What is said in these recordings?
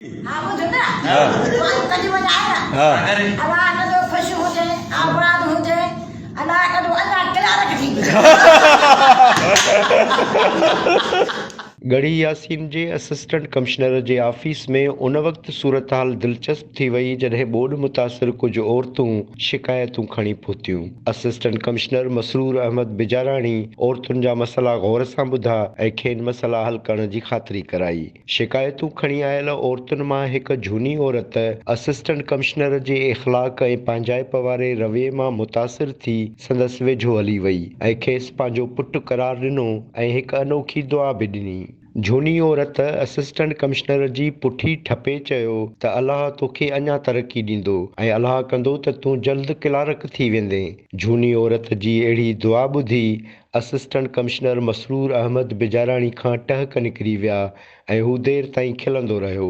ها ٻڌ نه وائي ڪڍي وڃ آيا الا ڪندو خوش هجي آباد هجي الا ڪندو اڃا ڪلارڪ ٿي وڃي ڳڙهي ياسين جي اسسٽنٽ ڪمشنر جي آفيس ۾ ان وقت صورتحال دلچسپ ٿي وئي جڏهن ٻوڏ متاثر ڪجهه عورتون شڪايتون کڻي پهتيون اسسٽنٽ ڪمشنر مسرور احمد بجاراڻي عورتن جا مسئلا غور سان ٻڌا ۽ کين مسئلا حل ڪرڻ جي خاطري ڪرائي شڪايتون کڻي آيل عورتن مان هڪ جھوني عورت اسسٽنٽ ڪمشنر جي اخلاق ۽ پنهنجائپ واري رويي مان متاثر ٿي سندس ويجھو هلي وئي ۽ کيس پنهنجو پٽ قرار ڏنو ۽ هڪ انوکي دعا به ڏني. جھوني عورت اسسٽنٽ ڪمشنر جي پٺي ٺپي چيو ته الله توکي اڃا ترقي ڏيندو ۽ الله ڪندو ته تون جلد ڪلارڪ ٿي ويندين. جھوني عورت جي اهڙي دعا ٻڌي اسسٽنٽ ڪمشنر مسرور احمد بجاراڻي کان ٽهڪ نڪري ويا ۽ هو دير تائين کلندو رهيو.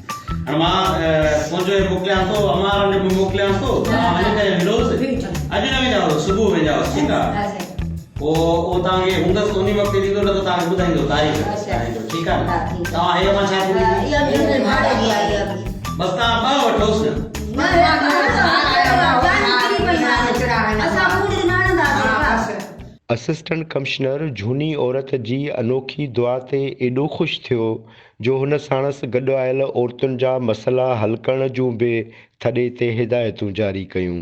اسسٽنٽ ڪمشنر جھوني عورت جي انوکي دعا تي ايڏو خوش ٿيو جو هن ساڻس گڏ آيل عورتن جا مسئلا حل ڪرڻ جون به ٿڏي تي هدايتون جاري ڪيون.